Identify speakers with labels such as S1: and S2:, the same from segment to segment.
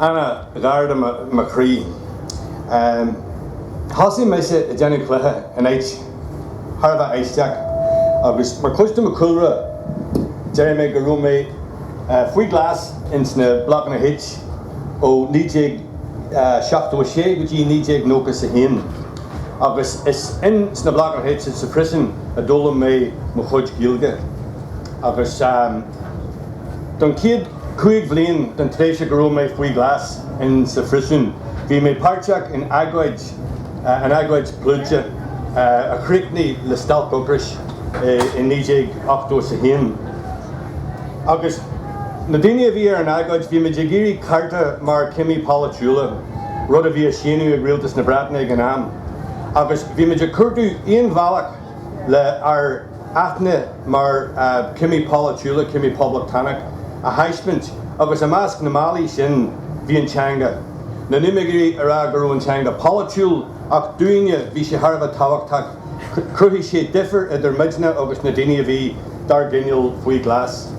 S1: Anna. Gearóid Mac Siacais, Thosaigh mise ag déanamh cluichí in áit thar a bheith aisteach agus mar chuid de mo chúlra déarfaidh mé go raibh mé faoi ghlas ins na blocanna H ó 1976 go dtí 1991 agus is ins na blocanna H is sa phriosún a d'fhoghlaim mé mo chuid Gaeilge agus don chéad Cúig bhliain den tréimhse go raibh mé faoi ghlas in sa phriosún, bhí mé páirteach in agóid, an agóid pluide, a chríochnaigh le stailc ocrais i 1981. Agus na daoine a bhí ar an agóid, bhí muid ag iarraidh cearta mar cimí polaitiúla, rud a bhí á shéanadh ag rialtas na Breataine ag an am, agus bhí muid ag cuartú aon bhealach, le ár n-aithne mar chimí polaitiúla, cimí poblachtánacha, a thaispeaint agus i measc na mbealaí sin bhí an teanga. Níl mé ag iarraidh a rá go raibh an teanga polaitiúil ach dúinne bhí sé thar a bheith tábhachtach, chruthaigh sé difir idir muidne agus na daoine a bhí dár gcoinneáil faoi ghlas.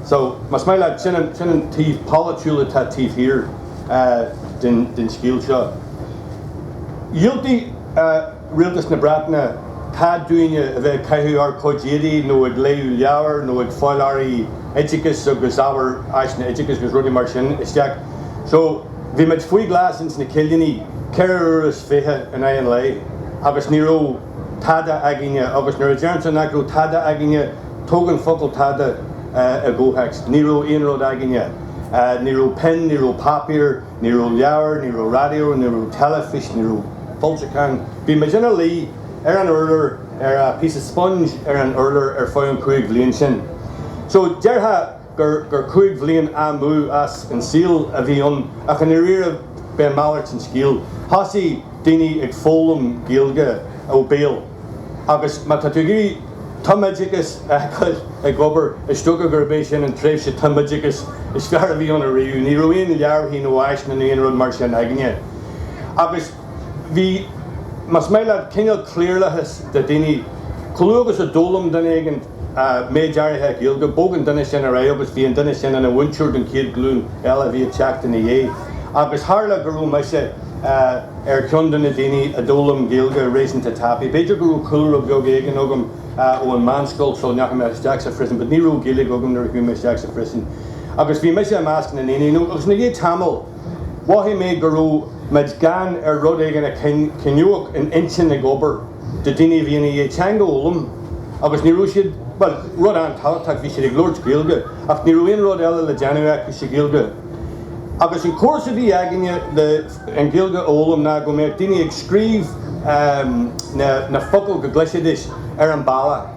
S1: So, más maith leat, sin an, sin an taobh polaitiúil atá taobh thiar den scéal seo. Dhiúltaigh. Rialtas na Breataine, cead dúinne a bheith ag caitheamh ár gcuid éadaí nó ag léamh leabhar nó ag fáil earraí oideachais agus ábhar áiseanna oideachais agus rudaí mar sin isteach. So, bhí muid faoi ghlas ins na cillíní ceithre uaire is fiche in aghaidh an lae agus ní raibh tada againne agus nuair a deirimse nach raibh tada againne, tugann an focal tada i gcomhthéacs, ní raibh aon rud againne. Ní raibh pinn, ní raibh páipéar. Ní raibh leabhair, ní raibh raidió, ní raibh teilifís, ní raibh foilseacháin. Bhí muid ina luí ar an urlár, ar phíosa sponge ar an urlár ar feadh an chúig bhliain sin. So, déarfá gur cúig bhliain amú as an saol a bhí ann ach i ndáiríre b'é malairt an scéal. Thosaigh daoine ag foghlaim Gaeilge ó bhéal. Agus má tá tú ag iarraidh tumoideachas a fheiceáil ag obair, is dócha gurb é sin an tréimhse tumoideachais is fearr a bhí ann ariamh. Ní raibh aon leabharthaí nó áiseanna nó aon rud mar sin againne. Agus bhí, más maith leat, cineál cliarlathas de dhaoine. Chomh luath agus a d'fhoghlaim duine éigin. méid áirithe Gaeilge, bhog an duine sin ar aghaidh agus bhí an duine sin ina mhúinteoir don chéad ghlúin eile a bhí ag teacht ina dhiaidh. Agus tharla go raibh mise ar cheann de na daoine a d'fhoghlaim Gaeilge réasúnta tapaidh. B'fhéidir go raibh cúlra beag éigin agam ón mheánscoil sula ndeachaigh mé isteach sa phríosún, but ní raibh Gaeilge agam nuair a chuaigh mé isteach sa phríosún. Agus bhí mise i measc na ndaoine, agus i ndiaidh tamaill, Mhothaigh mé go raibh muid gann ar rud éigin a choinneodh an intinn ag obair do dhaoine a bhí ina dhiaidh teanga a fhoghlaim agus ní raibh siad, bhuel, rud an-tábhachtach, bhí siad ag labhairt Gaeilge ach ní raibh aon rud eile le déanamh acu sa Ghaeilge. Agus an córas a bhí againne le an Ghaeilge a fhoghlaim ná go mbeadh daoine ag scríobh na focail go gcloisfidís ar an bhalla.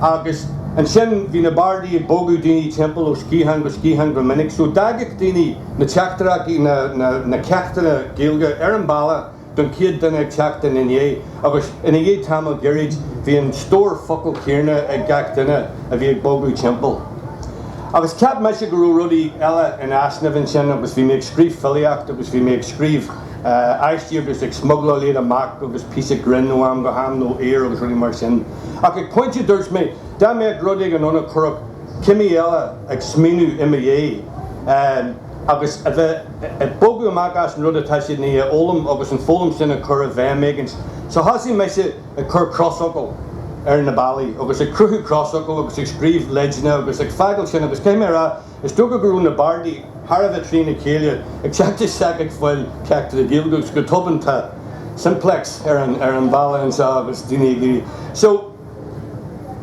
S1: Agus ansin bhí na bardaí ag bogadh daoine timpeall ó sciathán go sciathán go minic. So d'fhaigheadh daoine na teachtaireachtaí, na ceachtanna Gaeilge ar an balla don chéad duine ag teacht ina ndiaidh. Agus i ndiaidh tamaill gairid bhí an stór focal céarna ag gach duine a bhí ag bogadh timpeall. Agus cheap mise go raibh rudaí eile in easnamh ansin agus bhí mé ag scríobh filíocht agus bhí mé ag scríobh aistí agus ag smugláil iad amach agus píosa grinn ó am go ham nó aor agus rudaí mar sin. Ach ag pointe dúirt mé dá mbeadh rud éigin ann a chuirfeadh cimí eile ag smaoineamh i mo dhéidh agus a bheith ag bogadh amach as an rud atá siad i ndiaidh a fhoghlaim agus an foghlaim sin a chur i bhfeidhm éigint so thosaigh mise ag cur crosfhocal ar na ballaí agus ag cruthú crosfhocal agus ag scríobh leideanna agus ag fágáil sin agus caithfidh mé a rá Is dócha go raibh na bardaí thar a bheith trína chéile ag teacht isteach ag fáil ceacht Gaeilge agus go tobann tá Simplex ar an bhalla anseo agus daoine ag rá. So,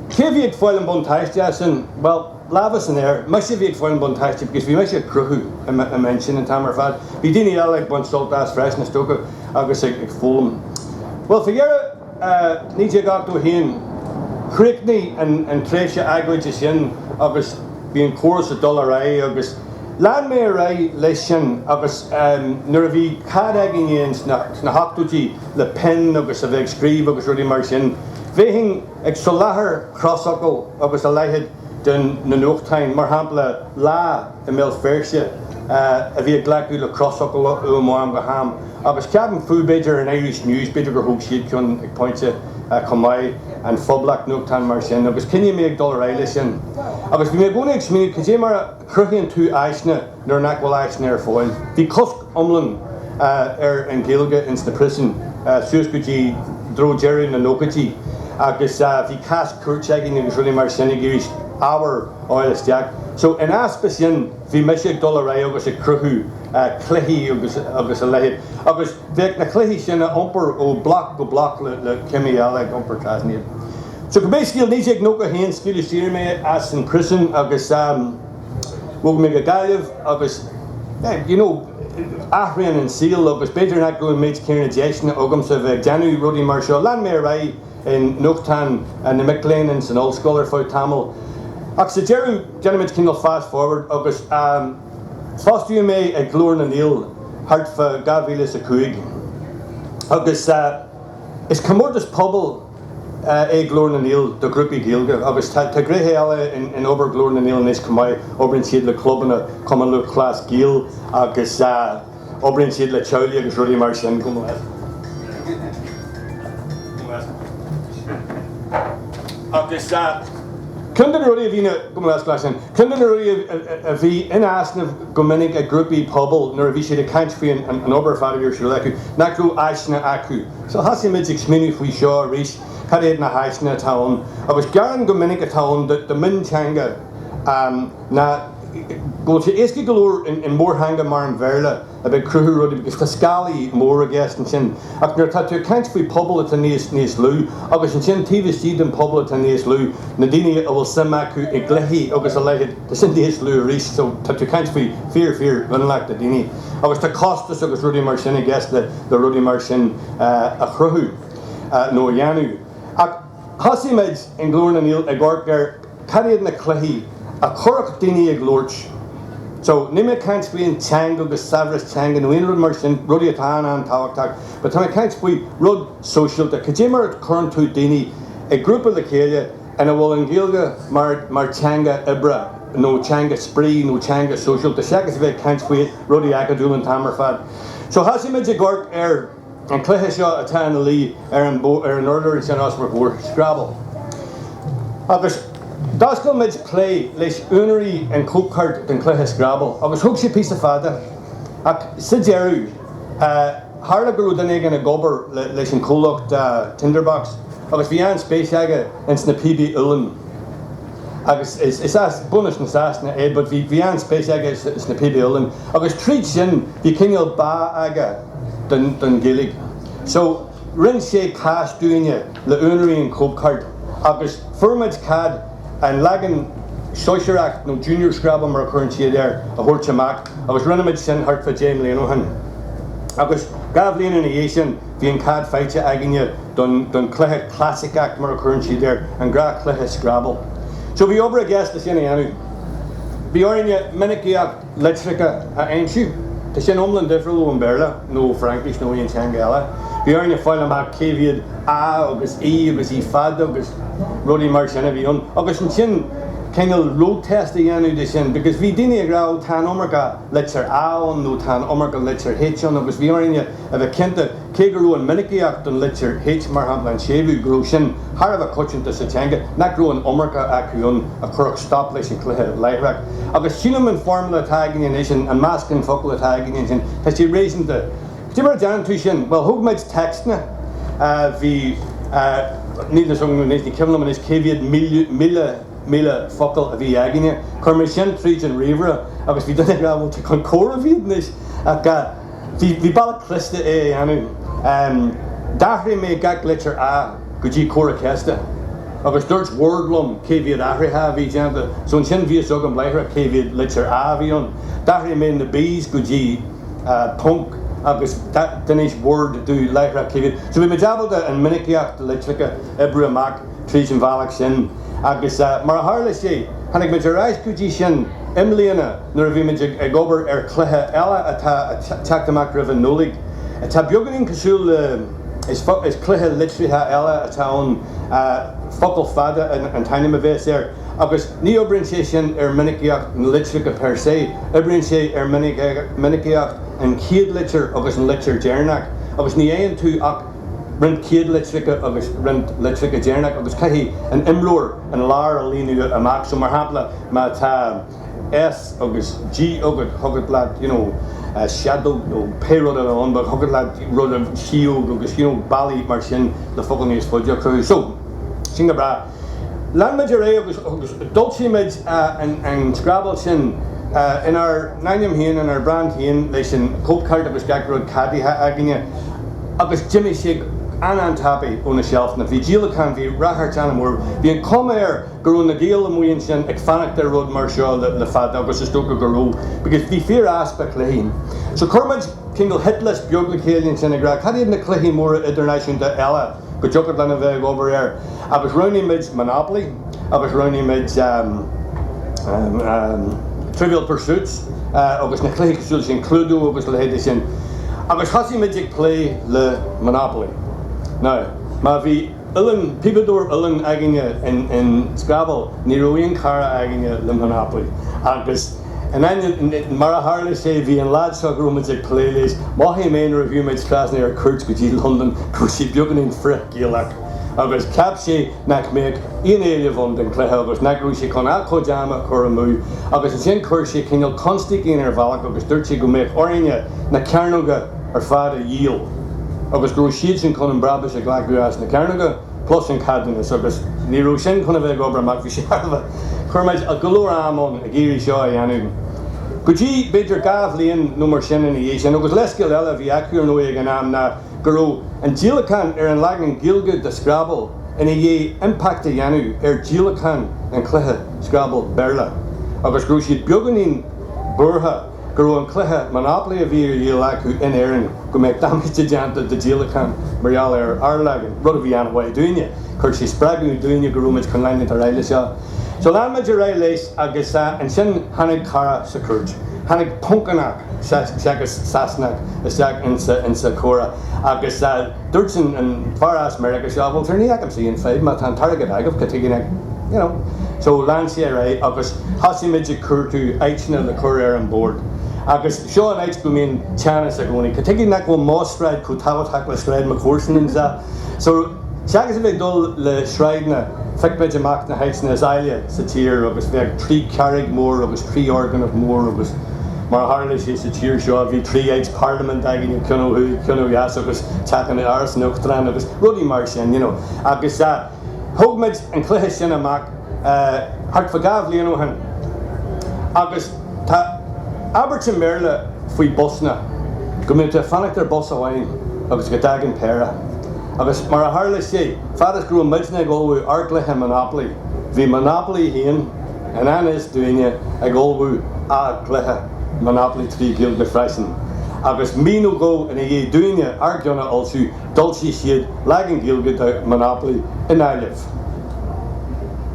S1: cé a bhí ag fáil an buntáiste as sin? Bhuel, lámha san aer, mise a bhí ag fáil an buntáiste because bhí mise ag cruthú i m'intinn an t-am ar fad. Bhí daoine eile ag baint sult as freisin is dócha agus ag foghlaim. Bhuel, faoi dheireadh, I 1981 chríochnaigh an tréimhse agóide sin agus bhí an córas ag dul ar aghaidh agus lean mé ar aghaidh leis sin agus nuair a bhí cead againn fhéin sna hochtóidí le pinn agus a bheith ag scríobh agus rudaí mar sin bhéinn ag soláthar crosfhocal agus a leithéid do na nuachtáin, mar shampla Lá i mBéal Feirste, a bhí ag glacadh le crosfhocal uaim ó am go ham, agus ceapaim fú, b'fhéidir an Irish News, b'fhéidir gur thóg siad ceann ag pointe chomh maith, An Phoblacht, nuachtáin mar sin, agus choinnigh mé ag dul ar aghaidh leis sin. Agus bhí mé i gcónaí ag smaoineamh cad é mar a. chruthaíonn tú áiseanna nuair nach bhfuil áiseanna ar fáil. Bhí cosc iomlán ar an Ghaeilge ins na príosúin suas go dtí i dtreo deireadh na nóchaidí agus bhí cás cúirte againn agus rudaí mar sin ag iarraidh ábhar a fháil isteach. So in easpa sin bhí mise ag dul ar aghaidh agus ag cruthú cluichí agus a leithéid agus bheadh na cluichí sin á n-iompar ó bloc go bloc le cimí eile ag iompar trasna iad. So basically 1991 scaoileadh saor mé as an phríosún agus bhog mé go Gaillimh agus you know athraionn an saol agus b'fhéidir nach raibh an méid céanna deiseanna agamsa bheith ag déanamh rudaí mar seo. Lean mé ar aghaidh i nuachtáin na mic léinn ins an ollscoil ar feadh tamaill ach sa deireadh déanfaimid cineál fast forward agus fostaíodh mé ag Glór na nGael thart fá dhá mhíle is a cúig agus is comórtas pobail é Glór na nGael do ghrúpaí Gaeilge agus tá gnéithe eile in obair Ghlór na nGael anois chomh maith. Oibríonn siad le clubanna Chumann Lúthchleas Gael agus oibríonn siad le teaghlaigh agus rudaí mar sin chomh maith. Agus ceann de na rudaí a bhíonn in easnamh go minic ag grúpaí pobail nuair a bhí siad ag caint faoi an obair fhada a bhí ar siúl acu, nach raibh áiseanna acu. So thosaigh muid ag smaoineamh faoi seo arís, cad iad na háiseanna atá ann agus gearán go minic atá ann do mhionteanga ná go bhfuil sé éasca go leor i mórtheanga mar an Bhéarla a bheith ag cruthú rudaí because tá scálaí mór i gceist ansin ach nuair atá tú ag caint faoi pobal atá níos níos lú agus ansin taobh istigh den pobal atá níos lú na daoine a bhfuil suim acu i gcluichí agus a leithid tá sin níos lú arís so tá tú ag caint faoi fíor fíor mhionlach de daoine agus tá costas agus rudaí mar sin i gceist le le rudaí mar sin a chruthú nó a dhéanamh. Ach thosaigh muid i nGlór na nGael ag amharc ar cad iad na cluichí a chuirfeadh daoine ag labhairt. So, níl mé ag caint faoi an teanga agus saibhreas teanga nó aon rud mar sin, rudaí atá an-an-tábhachtach, but tá mé ag caint faoi rud sóisialta. Cad é mar a chuireann tú daoine i grúpa le chéile, ina bhfuil an Ghaeilge mar theanga oibre nó teanga spraoi nó teanga sóisialta, seachas a bheith ag caint faoi rudaí acadúla an t-am ar fad. So thosaigh muid ag amharc ar an cluiche seo atá ina luí ar an urlár ansin os bhur gcomhair, Scrabble. Agus d'oscail muid plé leis úinéirí an chóipchirt den chluiche Scrabble agus thóg sé píosa fada ach sa deireadh, Tharla go raibh duine éigin ag obair leis an comhlacht Tinderbox agus bhí an-spéis aige ins na píobaí uilleann agus is as bunadh na Sasana é but bhí an-spéis aige sna píobaí uilleann agus tríd sin bhí cineál bá aige don Ghaeilge so rinne sé cás dúinne le úinéirí an chóipcheart agus fuair muid cead an leagan sóisearach nó junior scrabble mar a chuireann siad air a thabhairt amach agus rinne muid sin thart fá deich mbliana ó shin. Agus dhá bhliain ina dhiaidh sin bhí an cead faighte againne don don cluiche clasaiceach mar a chuireann siad air, an gnáthchluiche scrabble. So bhí obair i gceist leis sin a dhéanamh. Bhí orainne minicíocht. litreacha a aimsiú. Tá sin iomlán difriúil ó Bhéarla nó ó Fhraincis nó aon teanga eile. Bhí orainn a fháil amach cé mhéad a agus e agus e fada agus rudaí mar sin a bhí ann agus ansin cineál road test a dhéanamh de sin because bhí daoine ag rá ó tá an iomarca litir a ann nó tá an iomarca litir H ann agus bhí orainn a bheith cinnte Cé go raibh an mhinicíocht den litir H, mar shampla an séimhiú, go raibh sin thar a bheith coitianta sa teanga, nach raibh an iomarca acu ann a chuirfeadh stop leis an chluiche láithreach. Agus sílim an foirmle atá againn anois, an meascán focal atá againn ansin, tá sé réasúnta. Cén chaoi a ndéanann tú sin? Bhuel, thóg muid téacsanna a bhí, níl 'fhios agam anois, ní cuimhin liom anois cé mhéad míle, míle focal a bhí againne. Chuir mé sin tríd an ríomhaire agus bhí daoine ag rá, bhuel, tá chun comhairimh iad anois. Bhí bealach cliste é a dhéanamh. D'athraigh mé gach litir 'a' go dtí comhartha ceiste agus dúirt Word liom cé mhéad athraithe a bhí déanta so ansin bhí a fhios agam láithreach cé mhéad litir 'a' a bhí ann. D'athraigh mé na b's go dtí ponc agus d'inis Word domh láithreach cé mhéad. So bhí muid ábalta an minicíocht litreacha oibriú amach tríd an bhealach sin agus mar a tharla sé tháinig muid ar ais go dtí sin. I mbliana nuair a bhí muid ag obair ar chluiche eile atá ag teacht amach roimh an Nollaig atá beagáinín cosúil le is cluiche litrithe eile atá ann Focal Fada an t-ainm a bheas air agus ní oibríonn sé sin ar mhinicíocht na litreacha per se, oibríonn sé ar mhinicíocht an chéad litir agus an litir deireanach agus ní fhaigheann tú ach roinnt céad litreacha agus roinnt litreacha deireanach agus caithfidh an imreoir an lár a líonadh amach. So mar shampla má tá S agus G agat thiocfadh leat you know seadóg nó pé rud eile ann but thiocfadh leat rudaí sióg agus you know bealaí mar sin le focal níos faide a chruthú. So sin go breá. Lean muid ar aghaidh agus d'fhoilsigh muid an Scrabble sin inár n-ainm féin, inár mbrand féin, leis an cóipcheart agus gach rud ceadaithe againne agus d'imigh sé an-an-tapaidh ó na seilfeanna. Bhí díolachán, bhí ráchairt an-mhór. Bhí an chuma air go raibh na Gaeil amuigh ansin ag fanacht ar rud mar seo le fada agus is dócha go raibh because bhí fíor-easpa cluichí. So chuir muid cineál hit list beag le chéile ansin ag rá cad iad na cluichí móra idirnáisiúnta eile go dtiocfadh linn a bheith ag obair air agus roghnaigh muid Monopoly agus roghnaigh muid Trivial Pursuits agus na cluichí cosúil leis sin, Cluedo agus a leithéidí sin agus thosaigh muid ag plé le Monopoly. Now, má bhí uilleann, píobadóir uilleann againne in Scrabble, ní raibh aon chara againne le Monopoly agus. And then mar a tharla sé, bhí an lad seo go raibh muid ag plé leis, mhothaigh mé nuair a bhí muid trasna ar cuairt go dtí Londain go raibh sé beagáinín frith-Gaelach agus cheap sé nach mbeadh aon éileamh ann don cluiche agus nach raibh sé chun a chuid ama a chur amú agus ansin chuir sé cineál constaic inár mbealach agus dúirt sé go mbeadh orainne na cearnóga ar fad a dhíol agus go raibh siadsan chun an brabús a ghlacadh as na cearnóga. Plus an ceadúnas agus ní raibh sin chun a bheith ag obair amach bhí sé thar a bheith. Chuir muid go leor ama ann ag iarraidh seo a dhéanamh. Go dtí b'fhéidir dhá bhliain nó mar sin ina dhiaidh sin agus leithscéal eile a bhí acu ar ndóigh ag an am ná go raibh an díolachán ar an leagan Gaeilge de Scrabble ina dhiaidh impact a dhéanamh ar díolachán an chluiche Scrabble Béarla agus go raibh siad beagáinín buartha. go raibh an cluiche Monopoly a bhí á dhíol acu in Éirinn, go mbeadh damáiste déanta do díolachán mar gheall ar ár leagan, rud a bhí an-mhaith dúinne. Chuir sé spreagadh dúinne go raibh muid chun leanúint ar aghaidh le seo. So lean muid ar aghaidh leis agus ansin tháinig cara sa chúirt, tháinig Poncánach seachas Sasanach isteach insa, insa comhrá agus. Dúirt an fear as Meiriceá seo, bhuel, sure, ní fheicimse aon fhadhb, má tá an t-airgead agaibh, cad chuige nach, you know. So, lean sé ar aghaidh agus thosaigh muid ag cuartú áiteanna le cur ar an bord. Agus seo an áit go mbíonn teannas i gcónaí. Cad chuige nach bhfuil mo sráid chomh tábhachtach le sráid mo chomharsan and so. So, seachas a bheith ag dul le sráideanna, phioc muid amach na háiteanna is áille sa tír agus bheadh trí charraig mhór agus trí fhoirgneamh mór agus. Mar a tharla sé sa tír seo bhí trí áit parlaiminte againn, ceann ó thuaidh, ceann ó dheas agus teach in Áras an Uachtaráin agus rudaí mar sin, you know. Agus thóg muid an cluiche sin amach thart fá dhá bhliain ó shin. Agus tá abairt i mBéarla faoi busanna, go mbíonn tú ag fanacht ar bus amháin agus go dtagann péire. Agus mar a tharla sé, fad is go raibh muidne ag ullmhú ár gcluiche Monopoly, bhí Monopoly féin, i ngan fhios dúinne ag ullmhú a gcluiche Monopoly trí Ghaeilge freisin. Agus mí nó dhó ina dhiaidh dúinne ár gceann a fhoilsiú, d'fhoilsigh siad leagan Gaeilge de Monopoly i nGaillimh.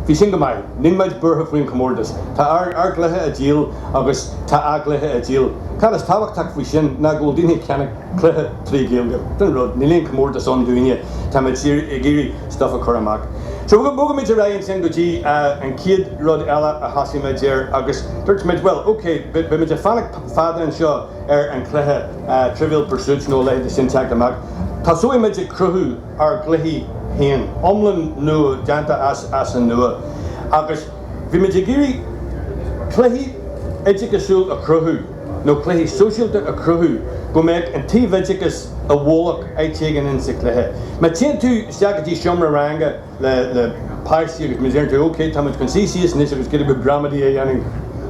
S1: Bhí sin go maith. Níl muid buartha faoin chomórtas. Tá ár gcluiche ag díol agus tá a gcluiche ag díol. Cad is tábhachtach faoi sin ná go bhfuil daoine ag ceannach. cluiche trí Ghaeilge. Sin an rud, níl aon comórtas ann dúinne, tá muid ag iarraidh stuff a chur amach. So bhog muid ar aghaidh ansin go dtí an chéad rud eile a thosaigh muid air agus dúirt muid bhuel ok, beidh muid ag fanacht fada anseo ar an chluiche Trivial Pursuit nó a leithéidí sin teacht amach, tosóidh muid ag cruthú ár gcluichí féin, iomlán nua, déanta as an nua agus bhí muid ag iarraidh cluiche oideachasúil a chruthú. nó cluichí sóisialta a chruthú go mbeadh an t-oideachas i bhfolach áit éigin in sa chluiche. Má téann tú isteach go dtí seomra ranga le páistí agus má deireann tú OK táimid chun suí síos anois agus cuid gramadaí a dhéanamh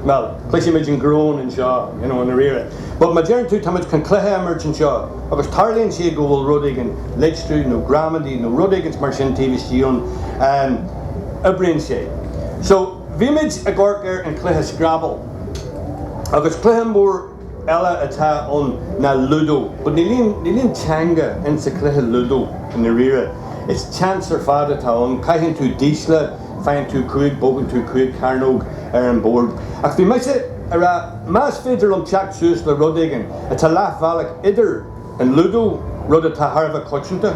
S1: bhuel cloisfidh muid an groan anseo i ndáiríre but má deireann tú táimid chun cluiche a imirt anseo agus tarlaíonn sé go bhfuil rud éigin litriú nó gramadaí nó rud éigint mar sin taobh istigh ann oibríonn sé so Bhí muid ag amharc ar an chluiche Scrabble. Agus cluiche mór eile atá ann ná Ludo. But níl aon teanga in sa cluiche Ludo i ndáiríre. It's chance ar fad atá ann. Caitheann tú dísle, faigheann tú cúig, bogann tú cúig chearnóg ar an bord. Ach bhí mise a' rá más féidir liom teacht suas le rud éigin atá leath bhealach idir, an Ludo, rud atá thar a bheith coitianta,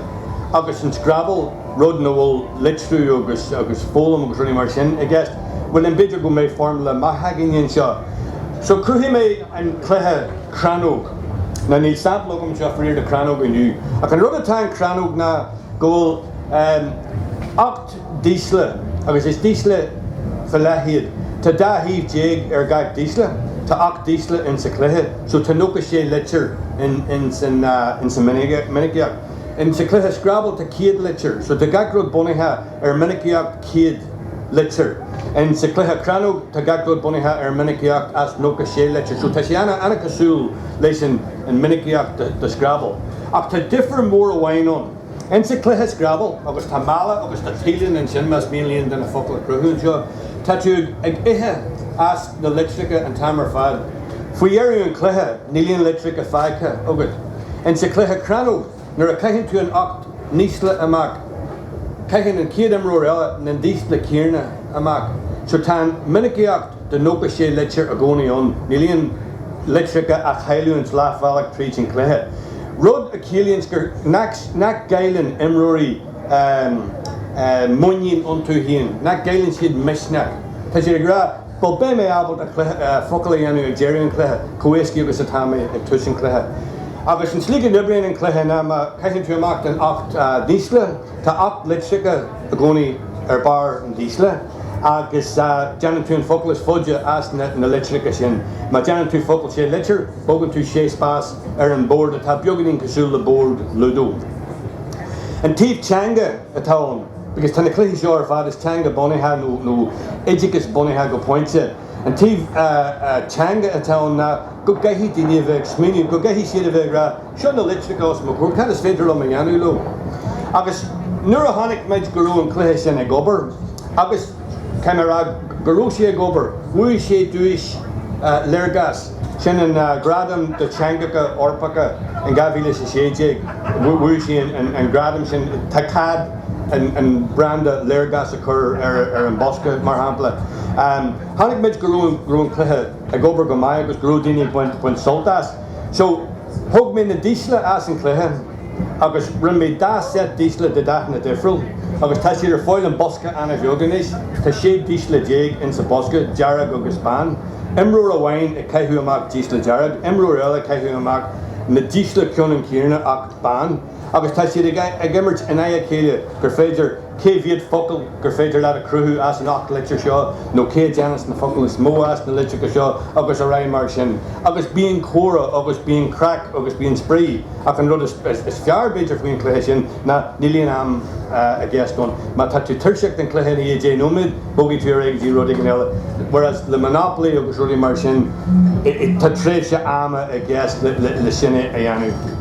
S1: agus an Scrabble, rud ina bhfuil litriú agus agus foghlaim agus rudaí mar sin i gceist. Bhuel, ansin b'fhéidir go mbeadh formula maith againne anseo? So, chruthaigh mé an cluiche crannóg. Now, níl sample agam anseo faraor de chrannóg inniu, ach an rud atá in crannóg ná go bhfuil eh. ocht. dísle, agus is dísle faoi leith iad. Tá dá thaobh déag ar gach dísle. Tá ocht dísle insa chluiche so tá nócha sé litir insa minicíocht. Insa chluiche Scrabble tá céad litir so tá gach rud bunaithe ar minicíocht céad litir. Insa chluiche Crannóg tá gach rud bunaithe ar minicíocht as nócha sé litir so tá sé an-cosúil leis an minicíocht de Scrabble. Ach tá difir mór amháin ann. Insa cluiche Scrabble agus tá mála agus tá tíleanna ansin más mian le aon duine focal a chruthú anseo. Tá tú ag ithe as na litreacha an t-am ar fad. Faoi dheireadh an chluiche níl aon litreacha fágtha agat. Insa cluiche Crannóg nuair a caitheann tú na hocht ndísle amach caitheann an chéad imreoir eile na dísle céanna amach so tá an minicíocht De nócha sé litir i gcónaí ann. Níl aon litreacha á chailliúint leathbhealach tríd an gcluiche. Rud a chiallaíonns gur nach gcailleann imreoirí muinín iontu féin, nach gcailleann siad misneach. Tá siad ag rá, Bhuel, beidh mé ábalta focal a dhéanamh ag deireadh an chluiche chomh héascaí agus atá mé ag tús an chluiche. Agus an tslí go n-oibríonn an cluiche ná má chaitheann tú amach na hocht ndísle, Tá ocht litreacha i gcónaí ar barr an dísle agus déanann tú an focal is faide as na litreacha sin. Má déanann tú focal sé litir, bogann tú sé spás ar an mbord atá beagáinín cosúil le bord lúdó. An taobh teanga atá ann, because tá na cluichí seo ar fad, is teanga bunaithe nó oideachas bunaithe go pointe, an taobh teanga atá ann ná go gcaithfidh daoine a bheith ag smaoineamh, go gcaithfidh siad a bheith ag rá, Seo na litreacha os mo chomhair, cad is féidir liom a dhéanamh leo? Agus nuair a chonaic muid go raibh an cluiche sin ag obair, agus tá mé a rá go raibh sé ag obair, bhuaigh sé duais Léargas, sin an gradam do teangacha Eorpacha in 2016, bhuaigh sé an gradam sin, tá cead an branda Léargas a chur ar an bhosca mar shampla. Chonaic muid go raibh an cluiche ag obair go maith agus go raibh daoine ag baint sult as. So, thóg mé na dísle as an chluiche agus rinne mé dá set dísle de dathanna difriúla agus tá siad ar fáil i mbosca ana-bheag anois. Tá sé dísle déag insa bosca, dearg agus bán. Imreoir amháin ag caitheamh amach dísle dearg, imreoir eile ag caitheamh amach na dísle ceannann céanna ach bán. agus tá siad ag imirt in aghaidh a chéile gur féidir cé mhéad focal gur féidir leat a chruthú as an 8 litir seo nó cé a dhéanfas na focail is mó as na litreacha seo agus ar aghaidh mar sin agus bíonn comhrá agus bíonn craic agus bíonn spraoi ach an rud is fearr b'fhéidir faoin chluiche sin ná níl aon am i gceist ann má tá tú tuirseach den chluiche i ndiaidh 10 nóiméad bogfaidh tú ar aghaidh go dtí rud éigin eile whereas le Monopoly agus rudaí mar sin tá tréimhse ama i gceist le sin a dhéanamh.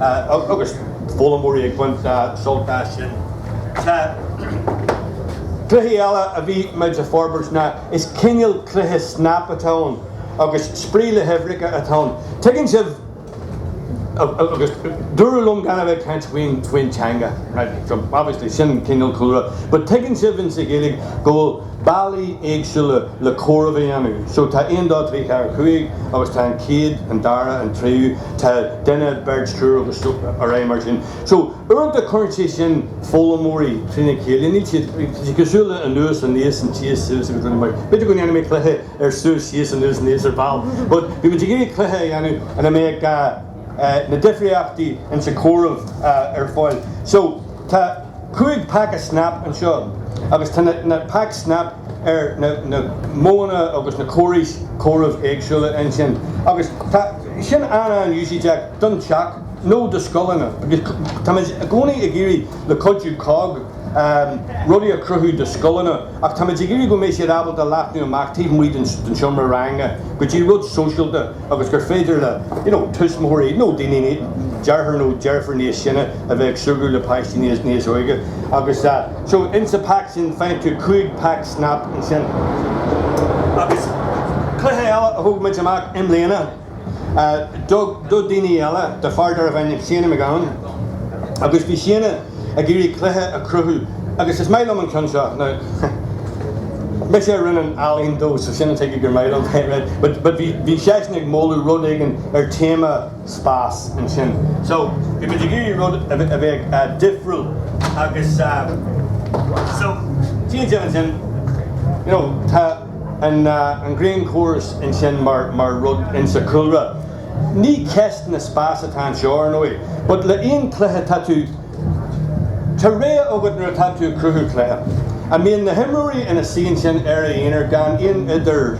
S1: agus foghlaimeoirí ag baint sult as sin. So cluiche eile a bhí muid a' forbairt ná is cineal cluiche snap atá ann agus spraoi le huimhreacha atá ann. Tuigeann sibh? Agus dúradh liom gan a bheith ag caint faoin teanga. So obviously sin an cineal cúlra. But tuigeann sibh ins an Ghaeilge go bhfuil bealaí éagsúla le comhaireamh a dhéanamh. So tá 1, 2, 3, 4, 5 agus tá an chéad, an dara, an tríú. Tá duine, beirt, triúr agus ar aghaidh mar sin. So, uaireanta cuireann sé sin foghlaimeoirí trína chéile. Níl siad, tá siad cosúil le anuas aníos an tíos suas agus rud mar sin. B'fhéidir go ndéanfaidh mé cluiche ar suas síos anuas aníos ar ball. But bhí muid ag iarraidh cluiche a dhéanamh ina mbeadh na difríochtaí insa comhaireamh ar fáil. So, tá. 5 paca Snap anseo agus tá na pack snap ar na modhanna agus na córais comhairimh éagsúla ansin agus sin an-an-úsáideach don teach nó do scoileanna agus táimid i gcónaí ag iarraidh le cuidiú COGG rudaí a chruthú do scoileanna ach táimid ag iarraidh go mbeidh siad ábalta leathnú amach taobh amuigh den seomra ranga go dtí rud sóisialta agus gur féidir le, you know, tuismitheoirí nó daoine ní, deartháir nó deirfiúr níos sine a bheith ag súgradh le páistí níos, níos óige agus ah, so in sa pack sin faigheann tú cúig pack snap ansin. Agus cluiche eile a thug muid amach i mbliana ah, do, do daoine eile, do fear darbh ainm Séana Mac Gabhann agus bhí Séana, ag iarraidh cluiche a cruthú agus is maith liom an ceann seo now mise a rinne an ealaín dó so sin tuige gur maith liom é right but but bhí bhí seisean ag moladh rud éigin ar téama spás ansin so bhí muid ag iarraidh rud a bheith a bheith difriúil agus so tchí sibh ansin you know tá an an green chorus ansin mar mar rud insa chúlra Ní ceist na spás atá anseo, ar ndóigh, but le aon cluiche tá tú Tá rogha agat nuair atá tú ag cruthú cluiche. An mbíonn na himreoirí ina suí ansin ar a aonar gan aon idir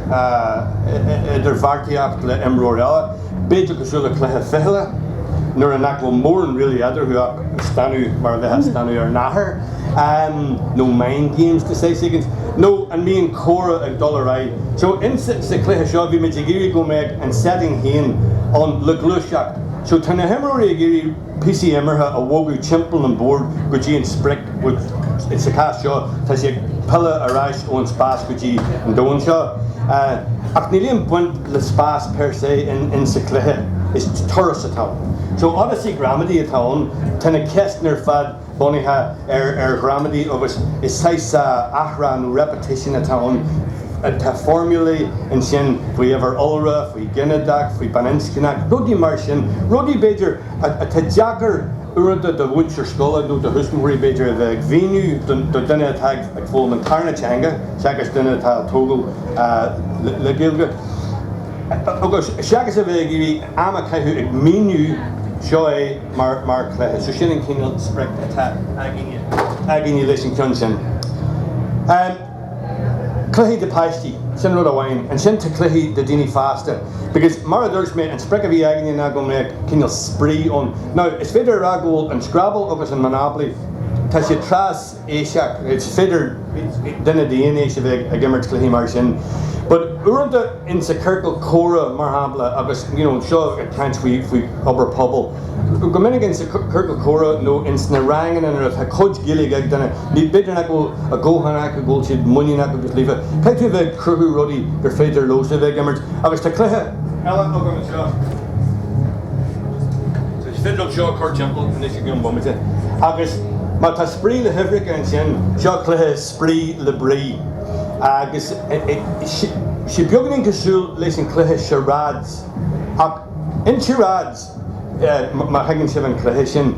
S1: idir bheartaíocht le imreoir eile, b'fhéidir cosúil le cluiche fichille nuair a nach bhfuil mórán really eadarthu ach stánadh mar a bheith ag stánadh ar nathair. Am nó mind games so to say? Nó an mbíonn comhrá ag dul ar aghaidh? So in sa sa chluiche seo bhí muid ag iarraidh go mbeadh an setting féin ann le gluaiseacht. So tá na himreoirí ag iarraidh píosaí imeartha a bhogadh timpeall an bord go dtí an sprioc which in sa chás seo tá sé ag pilleadh ar ais ón spás go dtí an domhan seo. Ach níl aon baint le spás per se insa chluiche. Is turas atá ann. So odyssey gramadach atá ann. Tá na ceisteanna ar fad. bunaithe ar ar ghramadach agus is saghas athrá nó repetition atá ann. Tá foirmiúlaí ansin faoi uimhir iolra, faoi ghinideach, faoi baininscneach, rudaí mar sin, rudaí b'fhéidir atá deacair uaireanta do mhúinteoirí scoile nó do thuismitheoirí b'fhéidir a bheith ag mhíniú do duine atá ag foghlaim an tarna teanga seachas duine atá tógtha le Gaeilge. Agus seachas a bheith ag iarraidh am a caitheamh ag míniú seo é, mar chluiche. So sin an cineál sprioc atá againne leis an ceann sin. Cluichí do páistí, sin rud amháin. Ansin tá cluichí do daoine fásta. Because mar a dúirt mé, an sprioc a bhí againne ná go mbeadh cineál spraoi ann. Now, is féidir a rá go bhfuil an Scrabble agus an Monopoly, tá siad tras, aoiseach, Is féidir duine d'aon aois a bheith ag imirt cluichí mar sin but uaireanta insa ciorcal comhrá mar shampla agus you know seo ag caint faoi obair pobail go minic insa ciorcal comhrá nó insna ranganna nuair atá cuid Gaeilge ag duine ní b'fhéidir nach bhfuil a dhóthain acu go bhfuil siad muiníneach agus líofa. Caithfidh tú a bheith ag cruthú rudaí gur féidir leosan a bheith ag imirt agus tá cluiche eile agam anseo. Is féidir liom seo a chur timpeall anois i gceann bomaite agus má tá spraoi le huimhreacha ansin, seo cluiche spraoi le brí agus tá sé beagán cosúil leis an cluiche charades ach in charades, má thuigeann sibh an cluiche sin,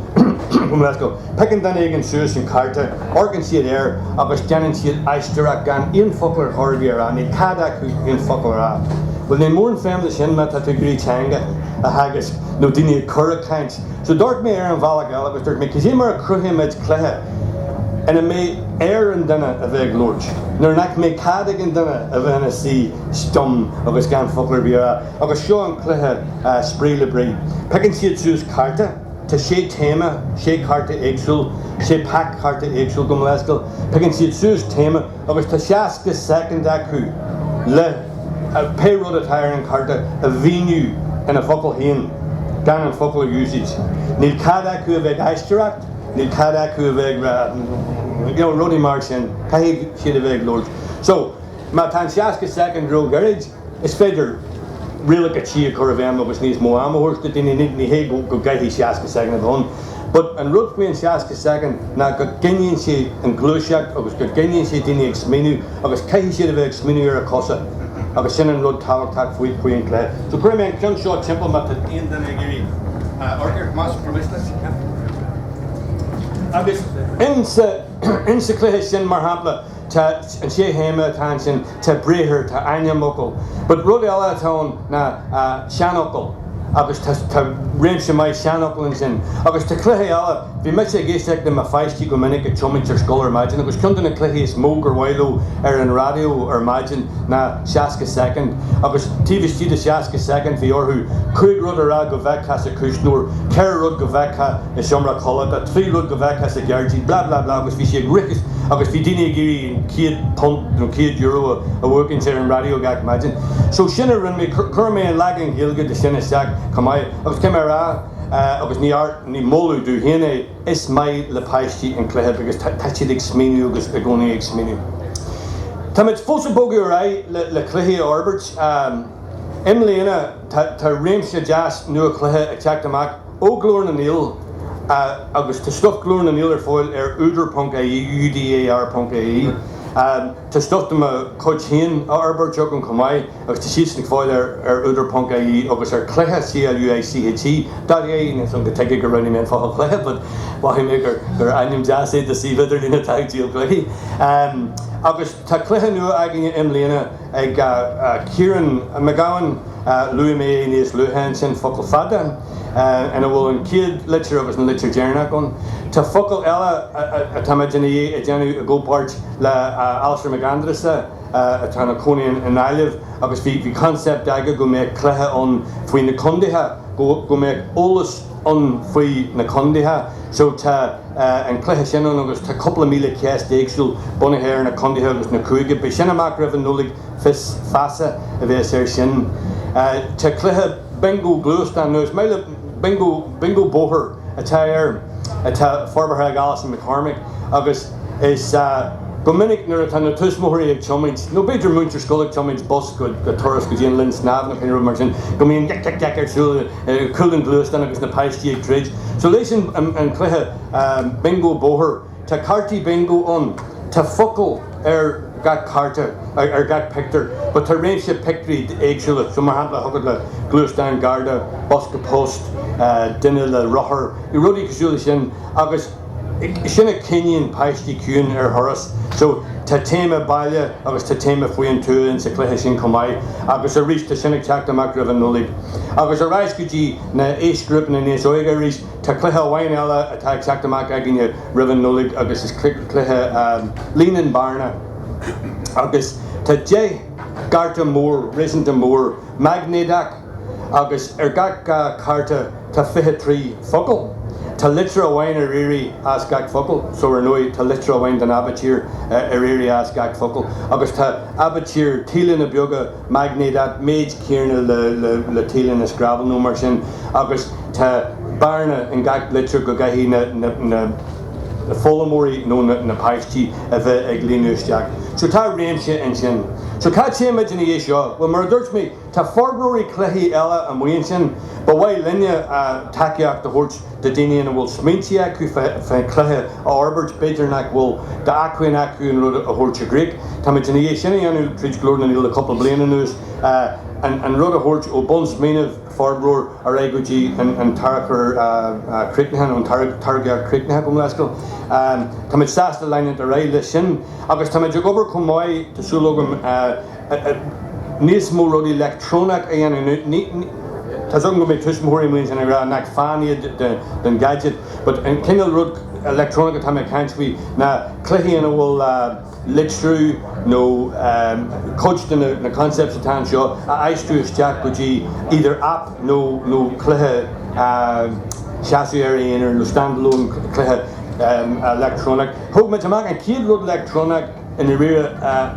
S1: Piocann duine éigin suas an cárta, amharcann siad air agus déanann siad aisteoireacht gan aon focal ar chor ar bith a rá, níl cead acu aon focal a rá. Bhuel, ní mór an feidhm leis sin má tá tú ag iarraidh teanga a theagasc nó daoine a chur ag caint. So d'amharc mé air an bhealach eile agus dúirt mé, cad é mar a chruthaímid cluiche ina mbeidh air an duine a bheith ag labhairt nó nach mbeidh cead ag an duine a bheith ina shuí stum agus gan focal ar bith a rá agus seo an cluiche Spraoi le Brí. Piocann siad suas cárta. Tá sé téama, sé cárta éagsúil, sé pack cárta éagsúil gabh mo leithscéal. Piocann siad suas téama agus tá 60 soicind acu le pé rud atá ar an chárta a mhíniú ina bhfocail féin, gan an focal a úsáid. Níl cead acu a bheith ag aisteoireacht, níl cead acu a bheith ag you know, rudaí mar sin. Caithfidh siad a bheith ag labhairt. So, má tá an 60 soicind róghairid, Is féidir rialacha tí a chur i bhfeidhm agus níos mó ama a thabhairt do daoine. Ní hé go gcaithfidh 60 soicind a bheith ann, but an rud faoi an 60 soicind ná go gcoinníonn sé an ghluaiseacht agus go gcoinníonn sé daoine ag smaoineamh agus caithfidh siad a bheith ag smaoineamh ar a gcosa agus sin an rud tábhachtach faoin chluiche. So cuirfidh mé an ceann seo timpeall má tá aon duine ag iarraidh amharc air, más maith leat. Agus in sa chluiche sin, mar shampla, Tá an sé théama atá ansin, tá briathar, tá ainmfhocal. But rud eile atá ann ná seanfhocail agus tá réimse maith seanfhocal ansin. Agus tá cluiche eile, bhí mise ag éisteacht le mo pháistí go minic ag tiomáint ar scoil ar maidin agus ceann de na cluichí is mó gur mhaith leo ar an raidió ar maidin ná 60 soicind agus taobh istigh de 60 soicind bhí orthu cúig rud a rá go bhfeicfeá sa chuisneoir, ceithre rud go bhfeicfeá. i seomra codlata, trí rud go bhfeicfeá sa ghairdín, blah blah blah agus bhí sé ag rith agus bhí daoine ag iarraidh an céad punt nó céad euro a bhuachaint ar an raidió gach maidin. So sin a rinne mé, chuir mé an leagan Ghaeilge de sin isteach chomh maith agus cé mar a agus ní art, ní moladh dom féin é, is maith le páistí an cluiche because tá siad ag smaoineamh agus i gcónaí ag smaoineamh. Táimid fós ag bogadh ar aghaidh le cluichí a fhorbairt. I mbliana tá réimse deas nua cluiche ag teacht amach. Ó Ghlór na nGael agus tá stuif Ghlór na nGael ar fáil ar údar ponc ie UDAR ponc ie Tá stuif de mo chuid féin á fhorbairt agam chomh maith agus tá siadsan ar fáil ar ar údar ponc ie agus ar Cluiche C-l-u-i-c-h-e dot ie Níl a fhios agam tuige go roghnaigh mé an focal cluiche but mhothaigh mé gur gur ainm deas é do suíomh idirlín atá ag díol cluichí agus Tá cluiche nua againne i mbliana ag Ciarán Mac Gabhann, luaigh mé é níos luaithe ansin, Focal Fada, ina bhfuil an chéad litir agus an litir deireanach ann. Tá focal eile atá muid i ndiaidh a dhéanamh i gcomhpáirt le Alasdair Mac Aindreasa atá ina chónaí i nGaillimh agus bhí concept aige go mbeadh cluiche ann faoi na condaetha go mbeadh eolas ann faoi na condaetha so tá an cluiche sin ann agus tá cúpla míle ceist éagsúil bunaithe ar na condaetha agus na cúigí. Beidh sin amach roimh an Nollaig Fios Feasa a bheas ar sin. Tá cluiche Bingo Gluaisteán nó más maith leat Bingo Bingo Bóthair atá air atá forbartha ag Alison McCormick agus. Is ea, go minic nuair atá na tuismitheoirí ag tiomaint, nó b'fhéidir múinteoir scoile ag tiomaint bus go Turas go dtí an linn snámh nó cineál rud mar sin, go mbíonn geic geic geic ar siúl i gcúl an ghluaisteáin agus na páistí ag troid. So leis an cluiche bingo bóthair. Tá cártaí bingo ann. Tá focail ar gach cárta, ar gach pictiúr. But tá réimse pictiúirí éagsúla. So mar shampla thig leat gluaisteán, garda, bosca poist, duine le rothar, rudaí cosúil leis sin agus. Sin a choinníonn páistí ciúin ar thuras. So, tá téama baile agus tá téama faoi an tuath insa chluiche sin chomh maith agus arís tá sin ag teacht amach roimh an Nollaig. Agus ar ais go dtí na aoisghrúpanna níos óige arís, tá cluiche amháin eile atá ag teacht amach againne roimh an Nollaig agus is cluiche líon an bhearna agus tá deich gcárta mór, réasúnta mór, maignéadach. agus ar gach cárta tá fiche trí focal. Tá litir amháin ar iarraidh as gach focal so ar ndóigh tá litir amháin den aibitír ar iarraidh as gach focal agus tá aibitír tíleanna beaga maignéid an méid céanna le tíleanna scrabble nó mar sin agus tá bearna in gach litir go gcaithfidh na foghlaimeoirí nó na páistí a bheith ag líonadh isteach so tá réimse ansin. So cá téimid ina dhiaidh seo? Bhuel mar a dúirt mé, Tá forbróirí cluichí eile amuigh ansin, ba mhaith linne tacaíocht a thabhairt do daoine a bhfuil smaointí acu fé chluiche a fhorbairt, b'fhéidir nach bhfuil d'acmhainn acu an rud a thabhairt i gcrích. Táimid i ndiaidh é sin a dhéanamh tríd Glór na nGael le cúpla bliain anuas, an rud a thabhairt ó bunsmaoineamh, forbróir, ar aghaidh go dtí an tarchur críochnaithe nó an táirgeadh críochnaithe, gabh mo leithscéal. Táimid sásta leanúint ar aghaidh leis sin agus táimid ag obair chomh maith, tá súil agam, níos mó rudaí leictreonach a dhéanamh nó ní Tá 's agam go mbeidh tuismitheoirí amuigh ansin ag rá ná fan den gadget but an cineál rud leictreonach atá muid ag caint faoi ná cluichí ina bhfuil litriú nó cuid de na concepts atá anseo a aistriú isteach go dtí either app nó nó cluiche a sheasfadh ina aonar nó standalone cluiche leictreonach. Thug muid amach an chéad rud leictreonach. i ndáiríre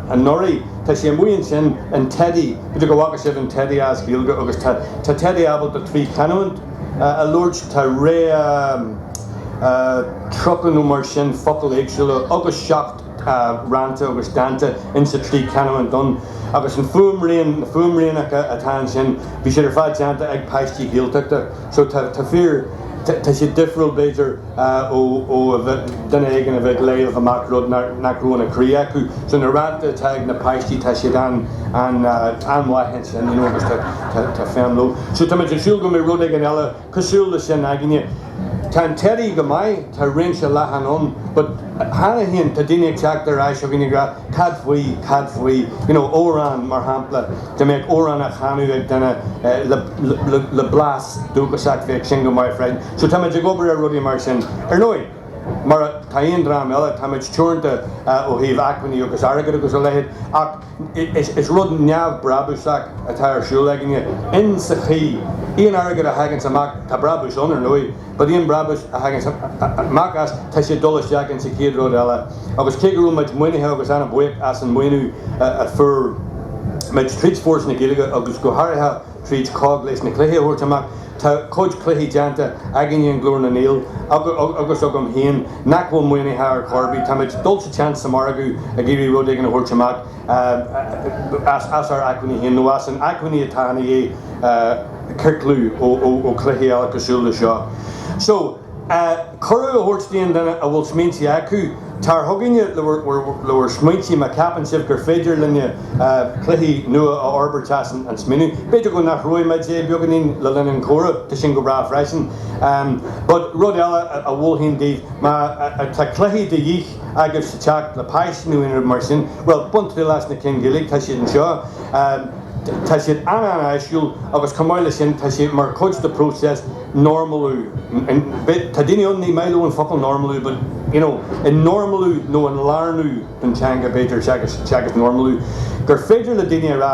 S1: anuraidh. Tá sé amuigh ansin, an teidí, b'fhéidir go bhfaca sibh an teidí as Gaeilge agus tá tá teidí ábalta trí chanúint a labhairt, tá réa tríocha nó mar sin focail éagsúla agus seacht rann agus dánta in sa trí chanúint ann agus an fuaimrian, na fuaimrianacha atá ansin, bhí siad ar fad déanta ag páistí Gaeltachta. So tá fíor, tá siad difriúil b'fhéidir ó duine éigin a bheith ag léamh amach rud nach raibh ina chroí acu. So na rannta atá ag na páistí tá siad an-mhaith ansin you know agus tá feidhm leo. So tá muid ag súil go mbeidh rud éigin eile cosúil le sin againne. Tá an Teddy go maith, tá réimse leathan ann but cheana féin tá daoine ag teacht ar ais chugainn ag rá, Cad faoi, cad faoi, you know, amhrán, mar shampla, dá mbeadh amhrán á chanadh ag duine le blas dúchasach, bheadh sin go maith freisin. So táimid ag obair ar rudaí mar sin. Ar ndóigh, mar tá aon dream eile, táimid teoranta ó thaobh acmhainní agus airgid agus a leithéid ach is rud neamhbhrabúsach atá ar siúl againne in sa chaoi, aon airgead a thaganns amach, tá brabús ann, ar ndóigh. But aon brabús a thaganns amach as tá sé ag dul isteach ins an chéad rud eile agus cé go raibh muid maoinithe agus ana bhuíoch as an maoiniú a fuair muid tríd Foras na Gaeilge agus go háirithe tríd COGG leis na cluichí a thabhairt amach tá cuid cluichí déanta againne i nGlór na nGael agus agam féin nach bhfuil maoinithe ar chor ar bith. Tá muid ag dul sa tseans sa margadh ag iarraidh rud éigin a thabhairt amach as ár acmhainní féin nó as an acmhainn atá ina dhiaidh ciorclú ó chluichí eile cosúil le seo. So, cuireadh a thabhairt d'aon duine a bhfuil smaointí acu, tar chugainne le bhur smaointí má cheapann sibh gur féidir linne cluiche nua a fhorbairt as an smaoineamh. B'fhéidir go n-athróidh muid é beagáinín le linn an chomhrá, tá sin go breá freisin. But rud eile a mholfainn daoibh, má tá cluichí de dhíth, agat sa teach le páiste nó aon rud mar sin, bhuel, bain triail as na cinn Gaeilge, tá siad anseo, tá siad an-an-áisiúil agus chomh maith leis sin tá siad mar chuid den phróiseas normalú, tá daoine ann ní mhaith leo an focal normalú but you know an normalú nó an lárnú don teanga b'fhéidir, teagasc normalú, gur féidir le daoine a rá.